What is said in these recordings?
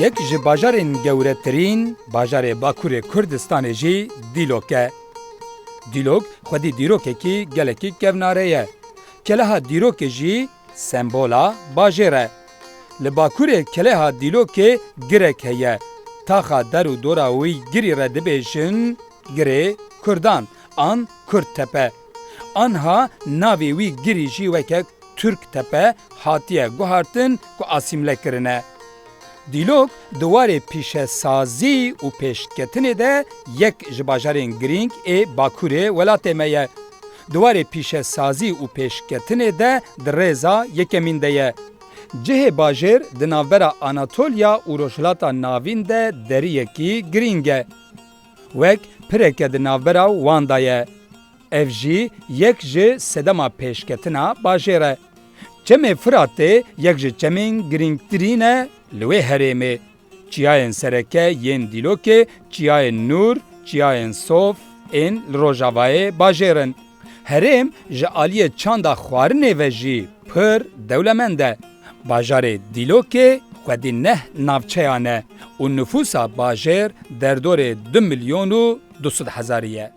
Yek ji bajarên gewretirîn bajarê Bakurê Kurdistanê jî Dîlok e. Dîlok xwedî dîrokekî gelekî kevnare ye. Keleha dîrokê jî Sembola bajêr e. Li bakurê keleha Dîlokê girek heye. Taxa der û dora wî girî re dibêjin Girê Kurdan an Kurdtepe. Anha navê wî girî jî weke Turktepe hatiye guhartin ku asîmle kirine. Dîlok di warê pîşesazî û pêşketinê de yek ji bajarên girîng ê bakurê welatê me ye. di warê pîşesazî û pêşketinê de di rêza yekemîn de ye. Cihê bajêr di navbera Anatolya û Rojhilata Navîn de deriyekî girîng e. Wek pireke di navbera wan de ye. Ev jî yek ji sedema pêşketina bajêr e. Çemê Firatê yek ji çemên girîngtirîn e li wê herêmê. Çiyayên sereke yên Dîlokê Çiyayên Nûr, Çiyayên Sof ên li rojavayê bajêr in. Herêm ji aliyê çanda xwarinê ve jî pir dewlemend e. Bajarê Dîlokê xwedî neh navçeyan e û nifûsa bajêr derdorê du milyon û du sed hezarî ye.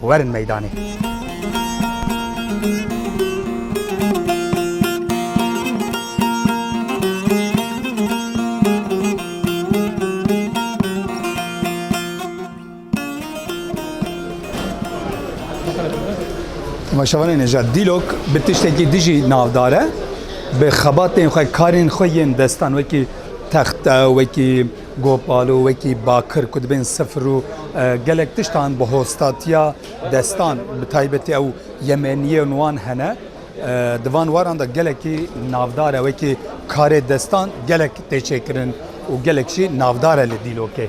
werin meydanê. Maşavanê Nejad Dîlok bi tiştekî dijî navdar e bi xebatên xwe karên xwe yên destan wekî texte wekî Gopalo wekî bakir ku dibên sifir û gelek tiştan bi hostatiya destan bi taybetî ew yemeniyên wan hene di van waran de gelekî navdar e wekî karê destan gelek tê çêkirin û gelek jî navdar e li dîlokê.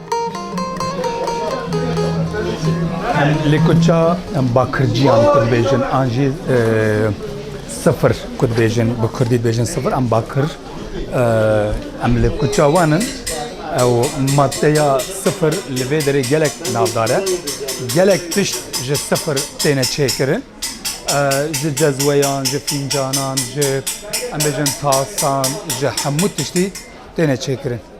Em lê ku ça em bakirciyan ku dibêjin an jî sifir ku dibêjin bi kurdî dibêjin sifir em bakir em lê ku ça wan in ew maddeya sifir li vê derê gelek navdar e gelek tişt ji sifir têne çêkirin ji cezweyan ji fîncanan ji em bêjin tasan ji hemû tiştî têne çêkirin.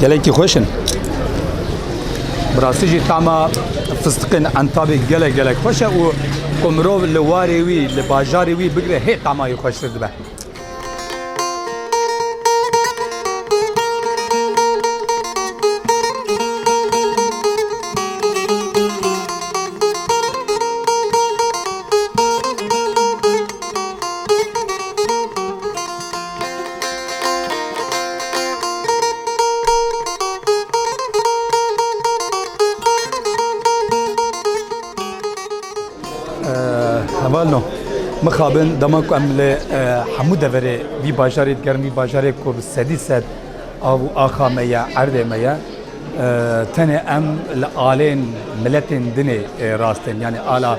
Gelekî xweş in. Bi rastî jî tama fistiqên entabê gelek gelek xweş e û ku mirov li warê wî li bajarê wî bigire hê tamayê xweştir dibe. Hevalno mixabin dema ku em li hemû deverê vî bajarê digerin vî bajarê ku bi sedî sed av û axa me ye erdê me ye tenê em li alên miletên dinê rastên yanî ala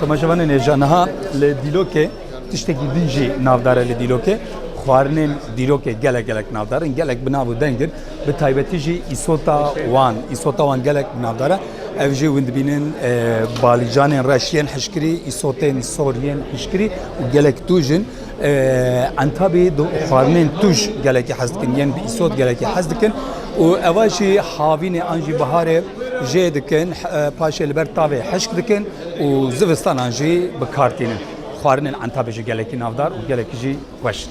Tomaşevanên hêja niha li Dîlokê tiştekî din jî navdar e li Dîlokê. Xwarinên Dîlokê gelek gelek navdar in, gelek bi nav û deng in. Bi taybetî jî îsota wan, îsota wan gelek bi navdar e. Ev jî hûn dibînin e, balîcanên reş yên hişkirî, îsotên sor yên hişkirî û gelek tûj in. Entabî di xwarinên tûj gelekî hez dikin yên bi îsot gelekî hez dikin û eva jî havînê an jî biharê jê dikin paşê li ber tavê hişk dikin û zivistanan jî bi kar tînin. Xwarinên entabê jî gelekî navdar û gelekî jî xweş in.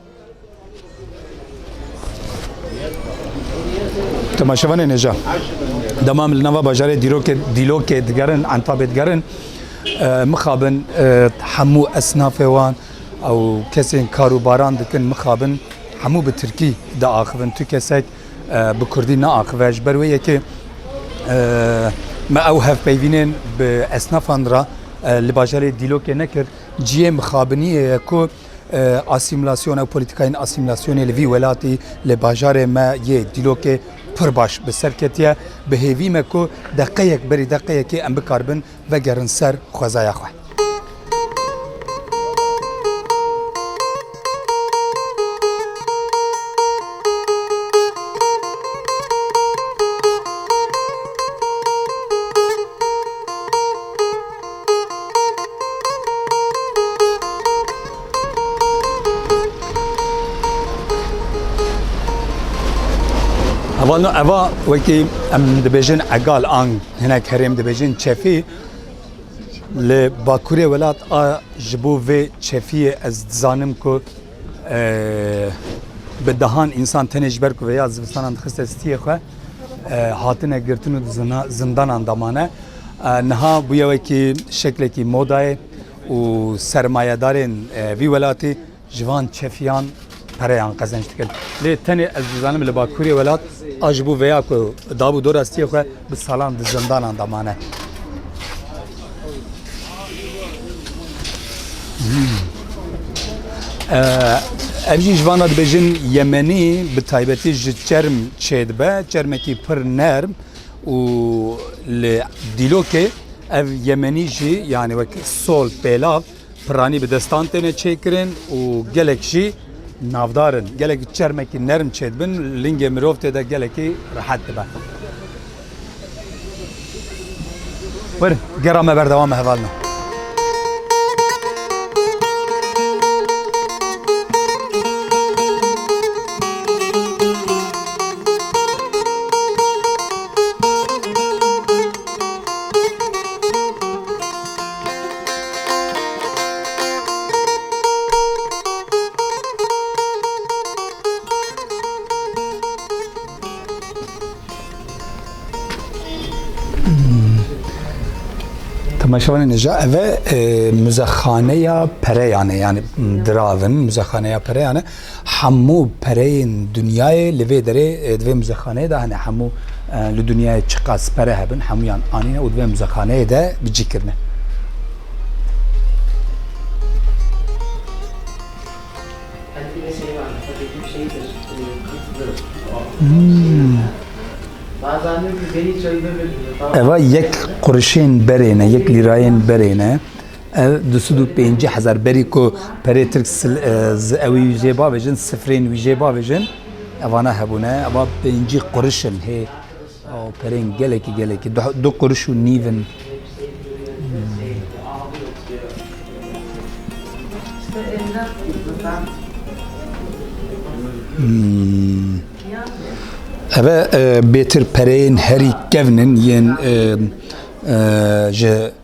Temaşevanê nêja dema em li nava bajarê dîrokê dîlokê digerin entabê digerin mixabin hemû esnafê wan ew kesên karûbaran dikin mixabin hemû bi tirkî diaxivin tu kesek bi kurdî neaxive ji ber wê yekê me ew hevpeyvînên bi esnafan re li bajarê dîlokê nekir ciyê mixabiniyê ye ku asîmîlasyona û polîtîkayên asîmîlasyonê li vî welatî li bajarê me yê dîlokê pir baş bi ser ketiye. Bi hêvî me ku deqeyek berî deqeyekê em bikaribin vegerin ser xwezaya xwe. Hevalno eva wekî em dibêjin egal an hinek herêm dibêjin çefî li bakurê welat a ji bo vê çefiyê ez dizanim ku Bi dehan însan tenê ji ber ku vêya zivistanan dixiste stiyê xwe hatine girtin û zindanan damane. Niha bûye wekî şeklekî modayê û sermayedarên vî welatî ji van çefiyan pereyan qezenç dikin. Lê tenê ez dizanim li bakurê welat a ji bo vêya ku dabû dora stiyê xwe Bi salan di zindanan de mane. Ev jî ji vana dibêjin Yemenî bi taybetî ji çerm çêdibe, çermekî pir nerm û li dîlokê ev Yemenî jî yanî wek sol pêlav Piranî bi destan têne çêkirin û gelek jî navdar in. Gelek çermekî nerm çêdibin, lingê mirov tê de gelekî rehet dibe. Werin, gera me berdewam e hevalina. Temaşevanê nija ev e muzexaneya pereyan e yani diravin muzexaneya pereyan e. Hemû pereyên dinyayê li vê derê di vê muzexaneyê de hene. Hemû li dinyayê çiqas pere hebin hemûyan anîne û di vê muzexaneyê de bi cî kirine. Eva yek qurişên berê ne, yek lîrayên berê ne. Ev du sed û pêncî hezar berî ku perê tirk ji ewî jê bavêjin, sifrên wî jê bavêjin, evane hebûne. Eva pêncî quriş in hê perên gelekî gelekî. Du quriş û nîv in. Ev bêtir pereyên herî kevn in yên ji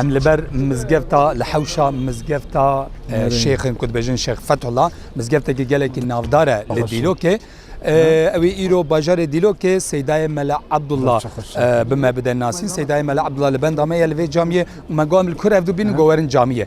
Em li ber mizgefta li hewşa mizgefta şêxin ku dibêjin şex Fethullah mizgeftekî gelekî navdar e li Dîlokê. Ew ê îro bajarê Dîlokê Seydayê Mele Abdullah bi me bide nasîn. Seydayê Mele Abdullah li benda me ye li vê camiyê û me got em li kur ev dû bînin got werin camiyê.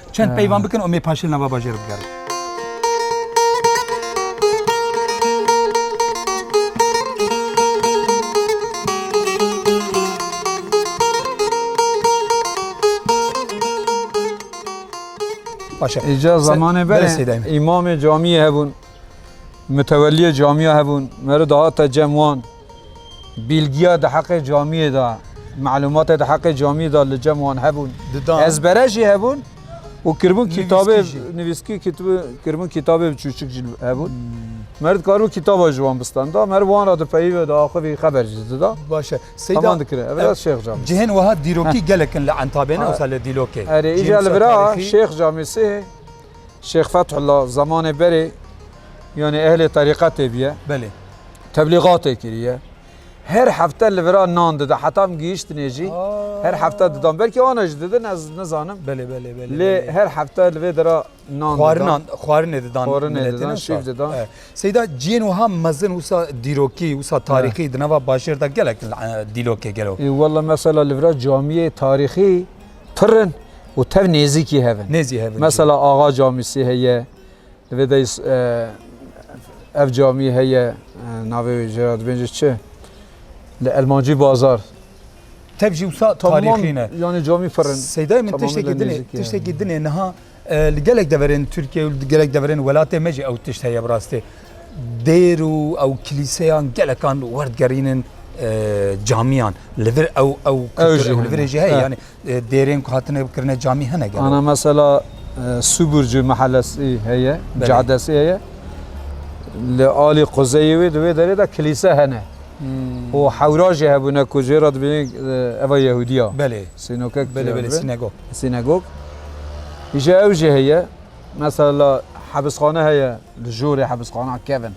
Çend peyvan bikin û mê paşil nava bajêr bigerin. Îca zamanê berê îmamê camiyê hebûn, miteweliyê camiya hebûn, meriv dihate cem wan. Bîlgiya di heqê camiyê de, malûmatê di heqê camiyê de li cem wan hebûn. Didan. Ezbere jî hebûn û kiribûn kitabê Nivîskî jî. nivîskî kitibê- kiribûn kitabê bi çûçik jî hebûn. Mer dikaribû kitaba ji wan bistanda. Mer wan re dipeyivê diaxivî xeber jî dida. Baş e. Seyda Heman dikirin. Ev ra Şêx Camî. Cihên wiha dîrokî gelek in li Entabê ne wisa li Dîlokê. Erê Cihên îcar li wisa vir a tarîxî. Şêx Camî sihê. Şêx Fethullah zemanê berê yanê ehlê terîqetê bûye. Belê. Teblîgatê kiriye. Her hefte li vira nan dida. Heta min gihîştinê jî her hefte didan. Belkî wana jî didin ez nizanim. Belê belê belê. Lê her hefte li vê dira nan didan. Xwarinan xwarinê didan. Xwarinê didan, şîv didan. Seyda ciyên wiha mezin wisa dîrokî, wisa tarîxî di nava bajêr de gelek dîlokê gelo. Walla mesela li vira camiyê tarîxî Pırın û tev nêzîkî hev in. Nêzî hev in. Mesela axa camîsî heye, divê de ev camî heye navê wê jê ra dibêjê çi? Li Elmancî bazar. Tev jî wisa tarîxî ne. Yani camî pırın. Seydayê min tiştekî dinê, tiştekî dinê niha Li gelek deverên Tirkiyeyê û li gelek deverên welatê me jî ew tişt heye bi rastî. Dêr û ew kilîseyan gelekan werdigerînin camiyan. Li vir ew ew kultur li virê jî heye. Yanî dêrên ku hatine kirine camî hene gelo. Ana mesela Suburcu mehellesî heye, cadesî heye. Li alî quzeyê wê di wê derê de kilîse hene. û hewra jî hebûne ku jê re dibînî eva Yehûdî ya. Belê. Sînokek. Belê belê sînegog. Sînagog îşa ew jî heye. Mesela hebisxane heye li jorê hebisxana kevin.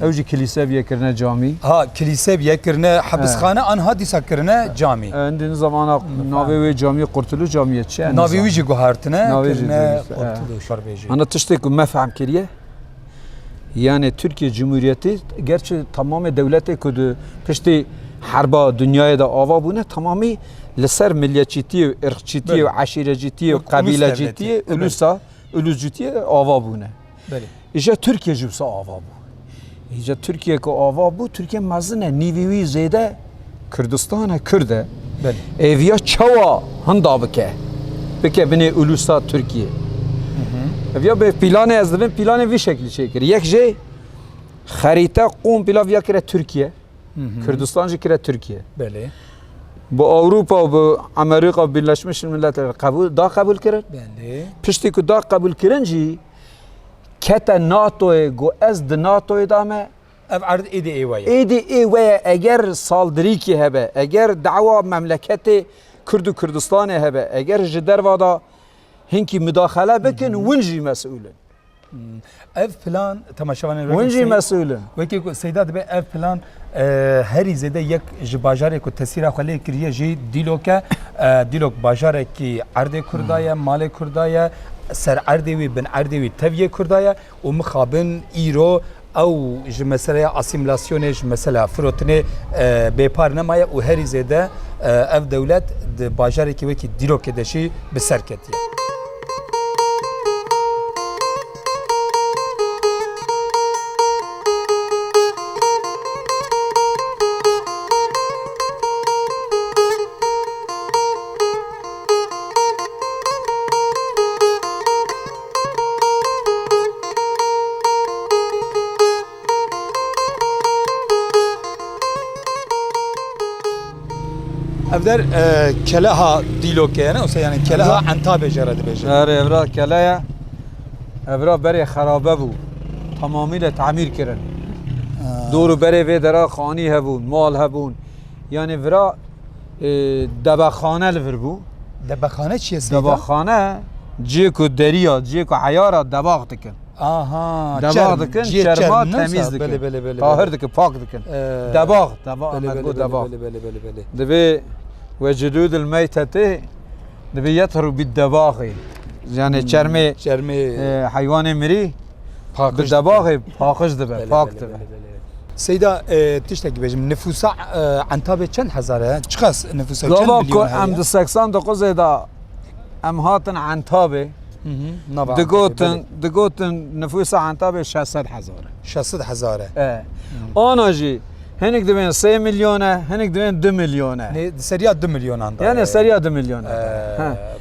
Ew jî kilîse biye kirine camî. Ha kilîse biye kirine hebisxane an ha dîsa kirine camî. Hindî ni zamana navê wê camî Qurtuluş camî ye çi ye? Navê wî jî guhartine kirine Qurtuluş. Hina tiştê ku me fehm kiriye. Yanê Tirkiyê Cumhuriyetê gerçi tamamê dewletê ku di piştî herba dinyayê de ava bûne tamamî li ser milletçîtiyê û irqçîtiyê û eşîrecîtiyê û qebîlecîtiyê ulusa uluscîtiyê ava bûne. Îje Tirkiye jî wisa ava bû. Îje Tirkiye ku ava bû Tirkiye mezin e nîvî wî zêde Kurdistane Kurd e. Eviya çawa hinda bike. Bike binê ulusa Türkiye. Eviya bê pîlanê ez dibin pîlanê vî şeklî çêkir. Yek jê xerîte qûm pîla viya kire Türkiye. Kurdistan jî kire Türkiye. Belê. Bu Avrupa bu Amerika Birleşmiş Milletler kabul da kabul kirin. Belê. Piştî ku da kabul kirin jî kete NATO'yê got ez di NATO'yê da me Ev erd êdî ê we ye. Êdî ê we ye eger saldirîkî hebe, eger dawa memleketê Kurd û Kurdistanê hebe, eger ji derva de hinkî mudaxele bikin win jî mesûl in. Ev plan temaşevanên wek Win jî mesûl in. Wekî ku Seyda dibe ev plan e, herî zêde yek ji bajarê ku tesîra xwe lê kiriye jî Dîlok e. E, Dîlok bajarekî erdê Kurda ye, malê Kurda ye, ser erdê wî, bin erdê wî tev yê Kurda ye. Û mixabin îro ew ji meseleya asîmîlasyonê, ji meseleya firotinê bêpar nemaye û herî zêde ev dewlet di bajarekî wekî Dîlokê de jî bi ser ketiye. Ev der e, keleha dîlokê ye ne wisa yani keleha entabê jê re dibêje. Her evra keleye evra berê xerabe bû. Tamamıyla tamir kirin. Doğru berê vê dera xanî hebûn, mal hebûn. Yani vira Debexane li vir bû. Debexane çi ye Seyda? Debexane ciyê ku deriya, ciyê ku eyara debax dikin. Aha, debax dikin, çerma temîz dikin. Belê, belê, belê. Tahir dikin, pak dikin. Debax, debax, emed got debax. Belê, belê, belê, belê. Divê vecidû dil meytetê, divê yethru bît debaxê. Yani çermê, çermê heywanê mirî. Bi debaxê paqij dibe, pak dibe. Seyda tiştekî be ji min. Nifûsa Entabê çend hezar e? Çiqas nifûsa çend milyon heye? Gava ku em di seksan doquzê de em hatin Entabê digotin digotin nifûsa Entabê şeş sed hezar e. Şeş sed hezar e. Ana jî Hinek divên sê milyon e, hinek divên du milyon e. Nê di seriya du milyonan de. Yani seriya du milyon e.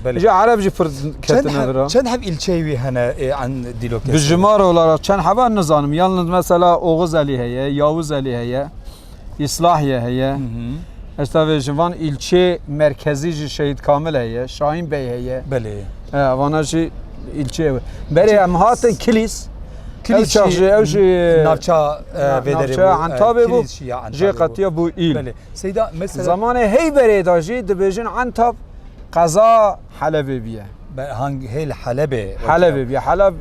Belê. Ji Ereb jî pir ketine vir e. Çend heb îlçeyê wî hene an dîlokê? Bi jimar olarak çend heba nizanim. Yalnız mesela Oxuzelî heye, Yawizelî heye, İslahiye heye. Ez tevê ji van îlçê merkezî jî Şehîd Kamil heye, Şahin Bey heye. Belê. Vana jî îlçeyê. Berê em hatin kilîs. Ew çax jî ew jî navça vêderê bû. Entabê bû jê qetiya bû îl. Zamanê heyberê da jî dibêjin entab qeza helebê bîye. Hang hê li helebê helebê bîye heleb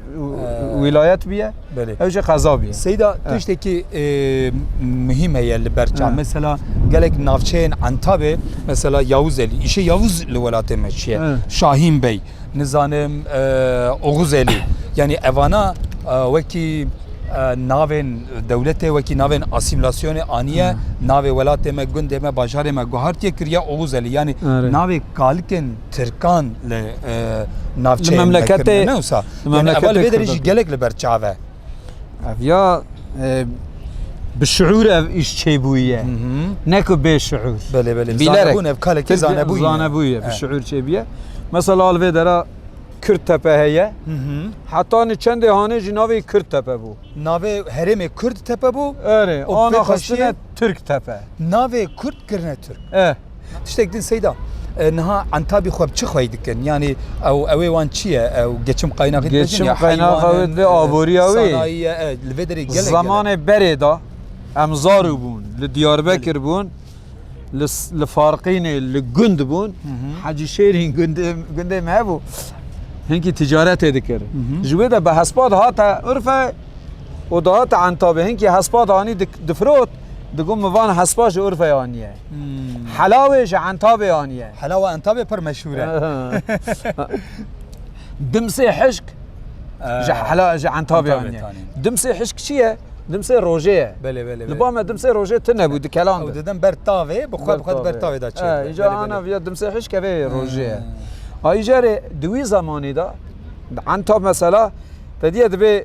wîlayet bîye ew jî qeza bîye. Seyda tiştekî muhîm heye li ber çax mesela gelek navçeyên entabê mesela Yawûz Elî îşê Yawûz li welatê me çiye Şahîn Bey. nizanim Oxuzelî yanî evana wekî navên dewletê wekî navên asîmlasyonê aniye navê welatê me gundê me bajarê me guhartiye kiriye Oxuzelî yanî navê kalikên Tirkan li navçeya memleketê wisa memleketê gelek li ber çav e. Ev ya bi şuur ev îş çêbûye neku bê şuur kalekî zanebûye zanebûye bi şuur çêbiye mesela al vê dera Kürt tepe heye heta ni çendê hanê jî navê Kürt tepe bû navê herêmê Kurd tepe bû Erê ana xistine Türk tepe navê Kurd kirine Türk Tiştek din Seyda. Niha entabî xwe bi çi xweyî dikin? Yanî ew ewê wan çi ye? Ew geçim qaynaxê dibêjin Geçim qaynaxa wê divê aboriya wê. Sanayiye e li vê derê gelek. Zemanê berê de em zarû bûn. Li Diyarbekir bûn. Li Farqînê li gund bûn. Hecî Şêrîn gundê me hebû. Hinkî ticaretê dikir. Ji wê de bi hespa dihate Urfe û dihate entabê. Hinkî hespa de anî difirot. Digot min van hespa ji Urfeyê aniye. Helawê ji Entabê aniye. Helawa Entabê pir meşhûr e. Dimsê hişk ji hela ji Entabê aniye. Dimsê hişk çi ye? Dimsê rojê ye. Belê belê. Li ba me dimsê rojê tune bû dikelan. Ew didim ber tavê, bi xwe bi xwe ber tavê da çê. Îca ana viya dimsê hişk evê rojê ye. Ayî jarê di wî zemanî da Entab mesela te diye dibê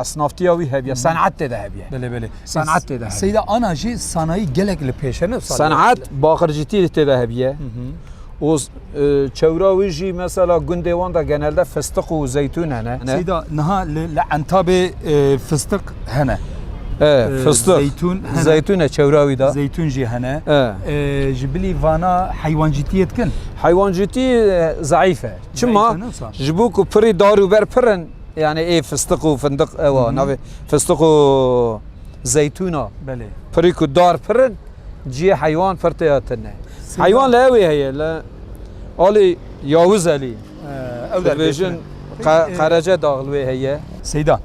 Esnaftiya wî hevî ye, senet tê de hevî ye. Belê belê. Senet tê de hevî ye. Seyda ana jî sanayî gelek li pêş e ne sal. Senet baqircîtîrî tê de hevî ye. û çewra wî jî mesela gundê wan de genelde fistiq û zeytûn hene. Seyda niha li li entabê fistiq hene. Fistiq zeytûn zeytûn e çewra wî de. Zeytûn jî hene. Ji bilî vana heywancîtiyê dikin. Heywancîtî zeîf e. Çima? Ji bo ku pirî dar û ber pir in. Yanî ê fistiq û findiq ew a navê fistiq û zeytûn a. Belê. Pirî ku dar pir in ciyê heywan pir tê ya tune. Heywan li ewê heye li alî Yawûz Elî. Ew dibêjin qerece dax li wê heye. Seyda,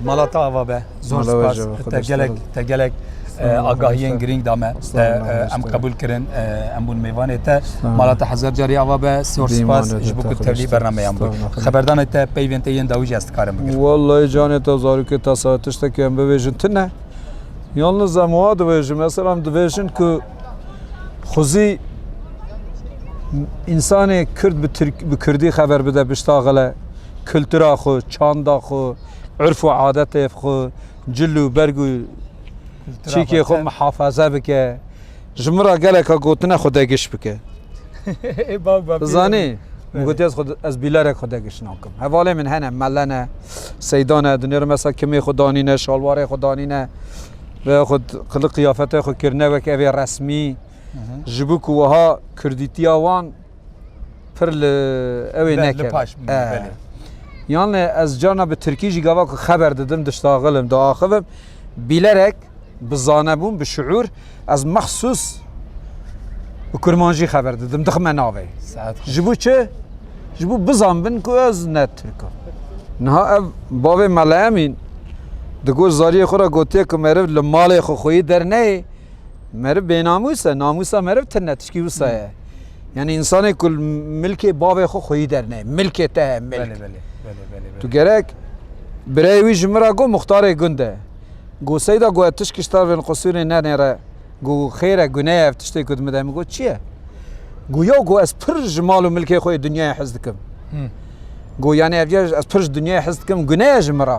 malata ava be. Zor spas te gelek te gelek agahiyên girîng da me em qebûl kirin em bûn mêvanê te mala te hezar carî ava be zor spas ji bo ku tevlî bernameyan bû xeberdanê te peyvên te yên dawî jî ez dikarim bikim Wallahî canê te zarokê te sa tiştekî em bibêjin tu ne Yalnız em wa dibêjin mesela em dibêjin ku xuzî insanê Kurd bi Kurd bi Kurdî xeber bide bişta xile kultura xwe çanda xwe urf û adetê xwe, cil û berg û çîkê xwe mihefaze bike, ji min re geleka gotine xwe degiş bike. Zanî, min gotiye ez xwe ez bîlerek xwe degiş nakim. Hevalên min hene, mele ne, seyda ne, di nêr mesela kimê xwe danîne, şalwarê xwe danîne, ve xwe qilik qiyafetê xwe kirine wek evê resmî, ji bo ku wiha kurdîtiya wan Pir li ew ê nekeve. Yanê ez carna bi Tirkî jî gava ku xeber didim, diştaxilim, diaxivim, bîlerek bi zanebûn, bi şiûr ez mexsûs bi kurmanjî xeber didim, dixime navê. Ji bo çi? Ji bo bizanbin ku ez ne Tirk im. Niha ev bavê me li Emîn di gor zariyê xwe re gotiye ku meriv li malê xwe xweyî derneyê, meriv bênamûs e, namûsa meriv tune, tişkî wisa ye. Yani insanê ku milkê bavê xwe xweyî derneyê. Milkê te he milk. Tu gerek birayê wî ji min re got muxtarê gund e. Got seyda got ez tişk kiştar vên qusûrê nenêre. Got xêr e gune ye ev tiştê ku dimide min got çi ye? Got ya got ez pir ji mal û milkê xwe yê dinyayê hez dikim. Got yani ev ya ez pir ji dinyayê hez dikim gune ye ji min re.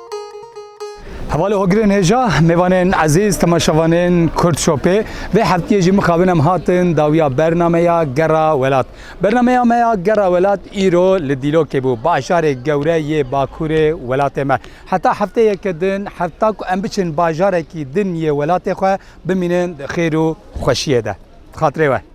Hevalê Hogirên Hêja, mêvanên ezîz, temaşevanên Kurd Şopê vê heftiyê jî mixabin em hatin dawiya bernameya Gera Welat. Bernameya me ya Gera Welat îro li Dîlokê bû, bajarê gewre yê Bakurê welatê me. Heta hefteyeke din heta ku em biçin bajarekî din yê welatê xwe bimînin di xêr û xweşiyê de. Di xatirê we.